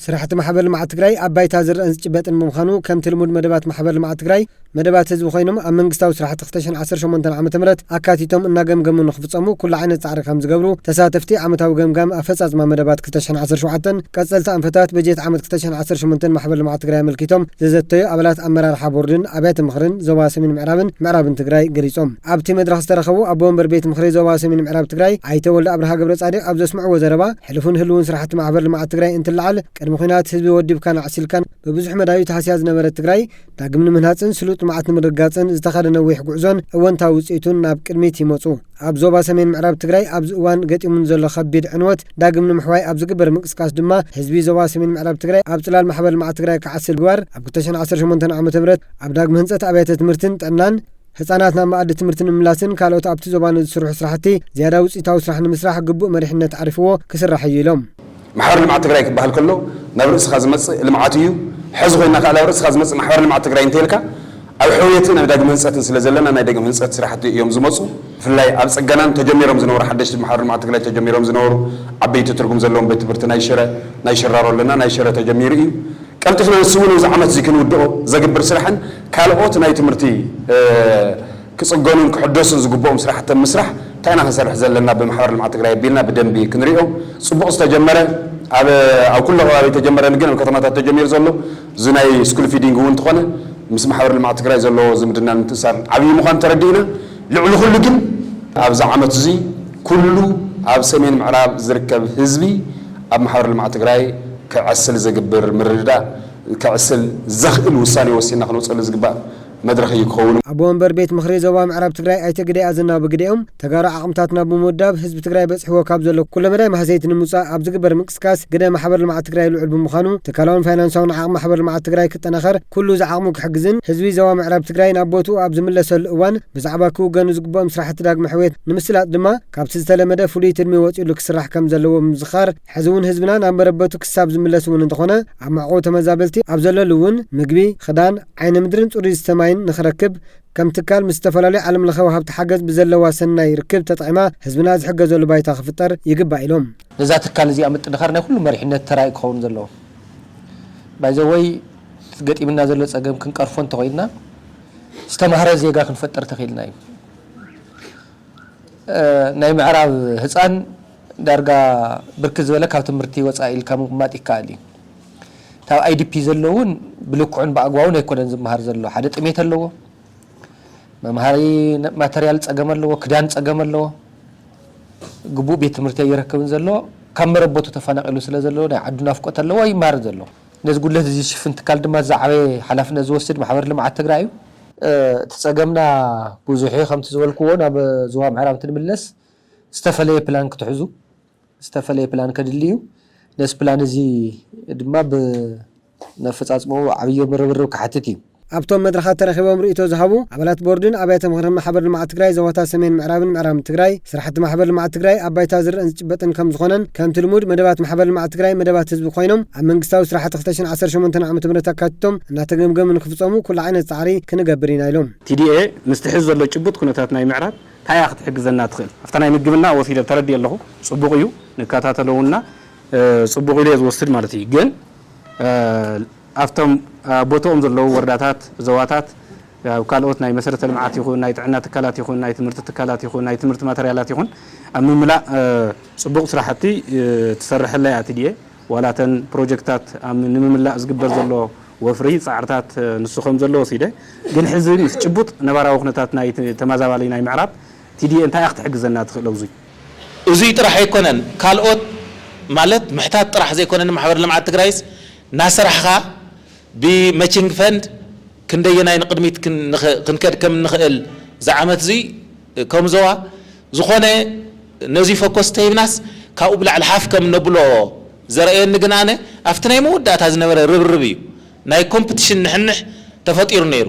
ስራሕቲ ማሕበር ልምዓት ትግራይ ኣብ ባይታ ዝረኣን ዝጭበጥን ብምዃኑ ከምቲ ልሙድ መደባት ማሕበር ልምዓት ትግራይ መደባት ህዝቢ ኮይኖም ኣብ መንግስታዊ ስራሕቲ ክልተ ሽሕን ዓሰርተ ሸሞንተን ዓመተ ምህረት ኣካቲቶም እናገምገሙ ንክፍፀሙ ኩሉ ዓይነት ፃዕሪ ከምዝገብሩ ተሳተፍቲ ዓመታዊ ገምጋም ኣፈፃፅማ መደባት ክልተ ሽሕን ዓሰርተ ሸውዓተን ቀፀልቲ ኣንፈታት በጀት ዓመት ክልተ ሽሕን ዓሰርተ ሸሞንተን ማሕበር ልምዓት ትግራይ ኣመልኪቶም ዘዘተዩ ኣባላት ኣመራርሓ ቦርድን ኣብያተ ምኽርን ዞባ ሰሜን ምዕራብን ምዕራብን ትግራይ ገሊፆም። ኣብቲ መድረኽ ዝተረኸቡ ኣቦ ወንበር ቤት ምኽሪ ዞባ ሰሜን ምዕራብ ትግራይ ኣይተ ወልደኣብርሃ ገብረፃዲቅ ኣብ ዘስምዕዎ ዘረባ፣ ሕሉፍን ህልውን ስራሕቲ ማሕበር ልምዓት ትግራይ እንትለዓል ቅድሚ ኹናት ህዝቢ ወዲብካን ኣዕሲልካን ብብዙሕ መዳዩ ተሃስያ ዝነበረት ትግራይ ዳግም ንምህናፅን ስሉጥ ልምዓት ንምርግጋፅን ዝተኸደ ነዊሕ ጉዕዞን እወንታዊ ውፅኢቱን ናብ ቅድሚት ይመፁ። ኣብ ዞባ ሰሜን ምዕራብ ትግራይ ኣብዚ እዋን ገጢሙ ንዘሎ ከቢድ ዕንወት ዳግም ንምሕዋይ ኣብ ዝግበር ምንቅስቃስ ድማ ህዝቢ ዞባ ሰሜን ምዕራብ ትግራይ ኣብ ፅላል ማሕበር ልምዓት ትግራይ ክዓስል ምግባር ኣብ ክልተ ሽሕን ዓሰርተ ሸሞንተን ዓመተ ምህረት ኣብ ዳግመ ህንፀት ኣብያተ ትምህርትን ጥዕናን ህፃናት ናብ መኣዲ ትምህርቲ ንምምላስን ካልኦት ኣብቲ ዞባ ንዝስርሑ ስራሕቲ ዝያዳ ውፅኢታዊ ስራሕ ንምስራሕ ግቡእ መሪሕነት ዓሪፍዎ ክስራሕ እዩ ኢሎም። ማሕበር ልምዓት ትግራይ ክበሃል ከሎ ናብ ርእስኻ ዝመፅእ ልምዓት እዩ። ሐዚ ኮይንና ከዓ ናብ ርእስኻ ዝመፅእ ማሕበር ልምዓት ትግራይ እንተይልካ ኣብ ሕውየትን ኣብ ዳግመ ህንፀትን ስለዘለና ናይ ዳግመ ህንፀት ስራሕቲ እዮም ዝመፁ። ብፍላይ ኣብ ፅገናን ተጀሚሮም ዝነበሩ ሓደሽቲ ብማሕበር ልምዓት ትግራይ ተጀሚሮም ዝነበሩ ዓበይቲ ትርጉም ዘለዎም ቤት ትምህርቲ ናይ ሽረ፣ ናይ ሽራሮ ኣለና ናይ ሽረ ተጀሚሩ እዩ። ቀልጢፍና ንስሙን እዚ ዓመት እዚ ክንውድኦ ዘግብር ስራሕን ካልኦት ናይ ትምህርቲ ክፅገኑን ክሕደሱን ዝግበኡም ስራሕቲ ኣብ ምስራሕ እንታይ ኢና ክንሰርሕ ዘለና ብማሕበር ልምዓት ትግራይ ኣቢልና ብደንቢ ክንሪኦ ፅቡቕ ዝተጀመረ ኣብ ኣብ ኩሉ ከባቢ ኣይተጀመረን ግን ኣብ ከተማታት ተጀሚሩ ዘሎ እዚ ናይ ስኩል ፊዲንግ እውን እንተኾነ ምስ ማሕበር ልምዓት ትግራይ ዘለዎ ዝምድናን ምትእስሳርን ዓብዪ ምዃኑ ተረዲእና ልዕሊ ኩሉ ግን ኣብዚ ዓመት እዚ ኩሉ ኣብ ሰሜን ምዕራብ ዝርከብ ህዝቢ ኣብ ማሕበር ልምዓት ትግራይ ክዐስል ዝግብር ምርድዳእ ከዕስል ዘኽእል ውሳኔ ወሲንና ክነውፀሉ ዝግባእ መድረኽ እዩ ክኸውን። ኣቦ ወንበር ቤት ምኽሪ ዞባ ምዕራብ ትግራይ ኣይተ ግደይ ኣዘናው ብግደኦም፣ ተጋሩ ዓቕምታትና ብምውዳብ ህዝቢ ትግራይ በፂሕዎ ካብ ዘሎ ኩለመዳይ ማህሰይቲ ንምውፃእ ኣብ ዝግበር ምንቅስቃስ ግደ ማሕበር ልምዓት ትግራይ ልዑል ብምዃኑ ትካላውን ፋይናንሳውን ዓቕሚ ማሕበር ልምዓት ትግራይ ክጠናኸር ኩሉ ዝዓቕሙ ክሕግዝን ህዝቢ ዞባ ምዕራብ ትግራይ ናብ ቦትኡ ኣብ ዝምለሰሉ እዋን ብዛዕባ ክውገኑ ዝግበኦም ስራሕቲ ዳግመ ሕውየት ንምስላጥ ድማ ካብቲ ዝተለመደ ፍሉይ ትልሚ ወፂኡሉ ክስራሕ ከምዘለዎ ብምዝኻር ሕዚ እውን ህዝብና ናብ መረበቱ ክሳብ ዝምለስ እውን እንተኾነ ኣብ መዕቆቢ ተመዛበልቲ ኣብ ዘለሉ እውን ምግቢ፣ ኽዳን፣ ዓይነ ምድርን ፅሩይ ዝስተ ማይን ንኽረክብ ከም ትካል ምስ ዝተፈላለዩ ዓለም ለኸ ወሃብቲ ሓገዝ ብዘለዋ ሰናይ ርክብ ተጠቒማ ህዝብና ዝሕገዘሉ ባይታ ክፍጠር ይግባእ ኢሎም። ነዛ ትካል እዚኣ ምጥንኻር ናይ ኩሉ መሪሕነት ተራ እዩ ክኸውን ዘለዎ። ባይ ዘ ዌይ ገጢምና ዘሎ ፀገም ክንቀርፎ እንተኾይንና ዝተምሃረ ዜጋ ክንፈጥር ተኽኢልና እዩ። ናይ ምዕራብ ህፃን ዳርጋ ብርክት ዝበለ ካብ ትምህርቲ ወፃኢ ኢልካ ምቕማጥ ይከኣል እዩ። ካብ IDP ዘሎ እውን ብልክዑን ብኣግባቡን ኣይኮነን ዝመሃር ዘሎ። ሓደ ጥሜት ኣለዎ፣ መምሃሪ ማተርያል ፀገም ኣለዎ፣ ክዳን ፀገም ኣለዎ፣ ግቡእ ቤት ትምህርቲ ኣይረክብን ዘሎ፣ ካብ መረበቱ ተፈናቒሉ ስለ ዘሎ ናይ ዓዱ ናፍቆት ኣለዎ ኣይመሃርን ዘሎ። ነዚ ጉድለት እዚ ዝሽፍን ትካል ድማ እቲ ዝዓበየ ሓላፍነት ዝወስድ ማሕበር ልምዓት ትግራይ እዩ። እቲ ፀገምና ብዙሕ እዩ፣ ከምቲ ዝበልክዎ ናብ ዞባ ምዕራብ እንትንምለስ ዝተፈለየ ፕላን ክትሕዙ ዝተፈለየ ፕላን ከድሊ እዩ። ነዚ ፕላን እዚ ድማ ብነፈፃፅምኡ ዓብዪ ርብርብ ክሓትት እዩ። ኣብቶም መድረኻት ተረኺቦም ርኢቶ ዝሃቡ ኣባላት ቦርድን ኣብያተ ምኽርን ማሕበር ልምዓት ትግራይ ዞባታት ሰሜን ምዕራብን ምዕራብን ትግራይ ስራሕቲ ማሕበር ልምዓት ትግራይ ኣብ ባይታ ዝረእን ዝጭበጥን ከምዝኾነን ከምቲ ልሙድ መደባት ማሕበር ልምዓት ትግራይ መደባት ህዝቢ ኮይኖም ኣብ መንግስታዊ ስራሕቲ ክልተ ሽሕን ዓሰርተ ሸሞንተን ዓ.ም ኣካቲቶም እናተገምገሙ ንክፍፀሙ ኩሉ ዓይነት ፃዕሪ ክንገብር ኢና ኢሎም። TDA ምስቲ ሕዚ ዘሎ ጭቡጥ ኩነታት ናይ ምዕራብ ታይ እያ ክትሕግዘና ትኽእል ኣብታ ናይ ምግብና ወሲደ ተረዲኤ ኣለኹ ፅቡቕ እዩ ንከታተለውና ፅቡቕ ኢሉ እየ ዝወስድ ማለት እዩ ግን ኣብቶም ኣብ ቦትኦም ዘለዉ ወረዳታት ዞባታት ኣብ ካልኦት ናይ መሰረተ ልምዓት ይኹን ናይ ጥዕና ትካላት ይኹን ናይ ትምህርቲ ትካላት ይኹን ናይ ትምህርቲ ማተርያላት ይኹን ኣብ ምምላእ ፅቡቕ ስራሕቲ ትሰርሐላ እያ ትድኤ ዋላ እተን ፕሮጀክትታት ኣብ ንምምላእ ዝግበር ዘሎ ወፍሪ ጻዕርታት ንሱ ከምዘሎ ወሲደ፣ ግን ሕዚ ምስ ጭቡጥ ነባራዊ ኩነታት ናይቲ ተመዛባሊ ናይ ምዕራብ፣ TDA እንታይ እያ ክትሕግዘና ትኽእል ኣብዙይ? እዙይ ጥራሕ ኣይኮነን ካልኦት ማለት ምሕታት ጥራሕ ዘይኮነ ንማሕበር ልምዓት ትግራይስ ናሰራሕኻ ብመቺንግ ፈንድ ክንደየናይ ንቕድሚት ክንከድ ከምንኽእል ዝዓመትዙይ ከም ዞባ ዝኾነ ነዙይ ፈኮስ ተሂብናስ ካብኡ ብላዕሊ ሓፍ ከም ነብሎ ዘርእየኒ ግን ኣነ ኣብቲ ናይ መወዳእታ ዝነበረ ርብርብ እዩ ናይ ኮምፕትሽን ንሕንሕ ተፈጢሩ ነይሩ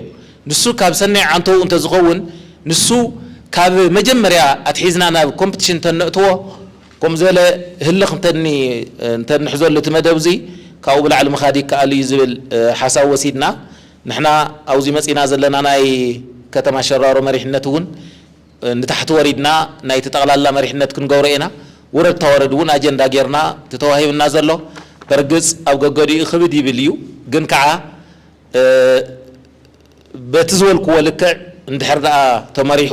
ንሱ ካብ ሰናይ ዓንተኡ እንተዝኸውን ንሱ ካብ መጀመርያ ኣትሒዝና ናብ ኮምፕትሽን እንተነእትዎ ከምኡ ዝበለ ህልኽ እንተንሕዘሉ እቲ መደብ እዙይ ካብኡ ብላዕሊ ምኻድ ይከኣል እዩ ዝብል ሓሳብ ወሲድና ንሕና ኣብዙይ መፂእና ዘለና ናይ ከተማ ሸራሮ መሪሕነት እውን ንታሕቲ ወሪድና ናይቲ ጠቕላላ መሪሕነት ክንገብሮ ኢና። ውረድ ታወረድ እውን ኣጀንዳ ገይርና እቲ ተዋሂብና ዘሎ በርግፅ ኣብ ገገዲኡ ክብድ ይብል እዩ ግን ከዓ በቲ ዝበልክዎ ልክዕ እንድሕር ድኣ ተመሪሑ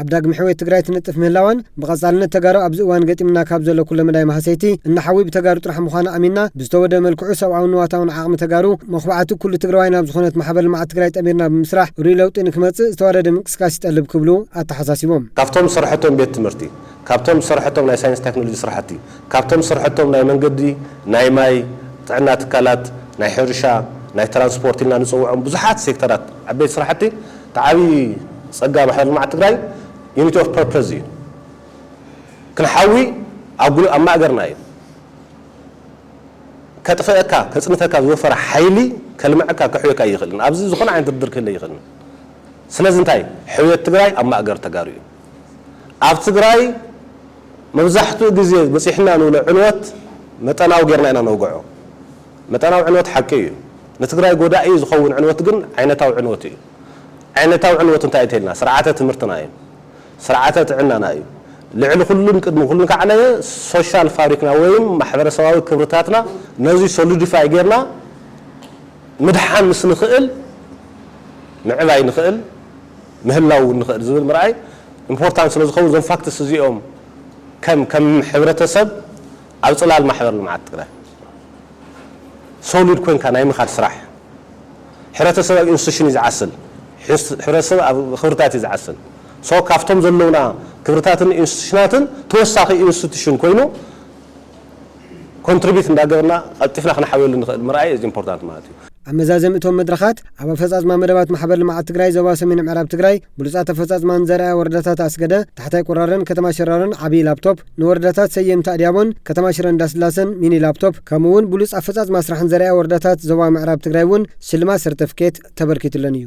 ኣብ ዳግመ ሕውየት ትግራይ ትነጥፍ ምህላዋን ብቐፃልነት ተጋሩ ኣብዚ እዋን ገጢሙና ካብ ዘሎ ኩለ መዳይ ማህሰይቲ እናሓዊ ብተጋሩ ጥራሕ ምዃኑ ኣሚንና ብዝተወደበ መልክዑ ሰብኣውን ንዋታውን ዓቕሚ ተጋሩ መኹባዕቲ ኩሉ ትግራዋይ ናብ ዝኾነት ማሕበር ልምዓት ትግራይ ጠሚርና ብምስራሕ ርኡይ ለውጢ ንክመፅእ ዝተዋደደ ምንቅስቃስ ይጠልብ ክብሉ ኣተሓሳሲቦም። ካብቶም ዝሰርሐቶም ቤት ትምህርቲ፣ ካብቶም ዝሰርሐቶም ናይ ሳይንስ ታክኖሎጂ ስራሕቲ፣ ካብቶም ዝሰርሐቶም ናይ መንገዲ፣ ናይ ማይ፣ ጥዕና ትካላት፣ ናይ ሕርሻ፣ ናይ ትራንስፖርት ኢልና ንፅውዖም ብዙሓት ሴክተራት ዓበይቲ ስራሕቲ እቲ ዓብዪ ፀጋ ማሕበር ልምዓት ትግራይ ዩኒቲ ኦፍ ፐርፐዝ እዩ። ክንሓዊ ኣብ ማእገርና እዩ። ከጥፈእካ ከፅንተካ ዝወፈረ ሓይሊ ከልመዐካ ከሕውየካ እይኽእልን። ኣብዚ ዝኾነ ዓይነት ድርድር ክህለ እይኽእልን። ስለዚ እንታይ ሕውየት ትግራይ ኣብ ማእገር ተጋሩ እዩ። ኣብ ትግራይ መብዛሕትኡ ግዜ በፂሕና ንብሎ ዕንወት መጠናዊ ገይርና ኢና ነውገዖ። መጠናዊ ዕንወት ሓቂ እዩ። ንትግራይ ጎዳኢ ዝኸውን ዕንወት ግን ዓይነታዊ ዕንወት እዩ። ዓይነታዊ ዕንወት እንታይ እዩ ተይልና ስርዓተ ትምህርትና እዩ። ስርዓተ ጥዕናና እዩ። ልዕሊ ኩሉን ቅድሚ ኩሉን ካዕነየ ሶሻል ፋብሪክና ወይም ማሕበረሰባዊ ክብርታትና ነዙይ ሶሉዲፋይ ገይርና ምድሓን ምስ ንኽእል ምዕባይ ንኽእል ምህላው እውን ንኽእል ዝብል ምርኣይ ኢምፖርታንት ስለ ዝኸውን እዞም ፋክትስ እዚኦም ከም ከም ሕብረተሰብ ኣብ ጽላል ማሕበር ልምዓት ትግራይ ሶሊድ ኮይንካ ናይ ምኻድ ስራሕ ሕብረተሰብ ኣብ ኢንስቲቱሽን እዩ ዝዓስል፣ ሕብረተሰብ ኣብ ክብርታት እዩ ዝዓስል። ሶ ካብቶም ዘለውና ክብርታትን ኢንስቲቱሽናትን ተወሳኺ ኢንስቲቱሽን ኮይኑ ኮንትሪቢዩት እንዳገበርና ቐልጢፍና ክነሓውየሉ ንኽእል ምርኣይ ኢዝ ኢምፖርታንት ማለት እዩ። ኣብ መዛዘሚ እቶም መድረኻት፣ ኣብ ኣፈፃፅማ መደባት ማሕበር ልምዓት ትግራይ ዞባ ሰሜን ምዕራብ ትግራይ ብሉፃት ኣፈፃፅማን ዘርኣያ ወረዳታት ኣስገደ፣ ታሕታይ ቁራረን ከተማ ሽራሮን ዓብዪ ላፕቶፕ፣ ንወረዳታት ሰየምቲ ኣድያቦን ከተማ ሽረ እንዳስላሰን ሚኒ ላፕቶፕ ከምኡ እውን ብሉፅ ኣፈፃፅማ ስራሕን ዘርኣያ ወረዳታት ዞባ ምዕራብ ትግራይ እውን ሽልማት ሰርተፍኬት ተበርኪቱለን እዩ።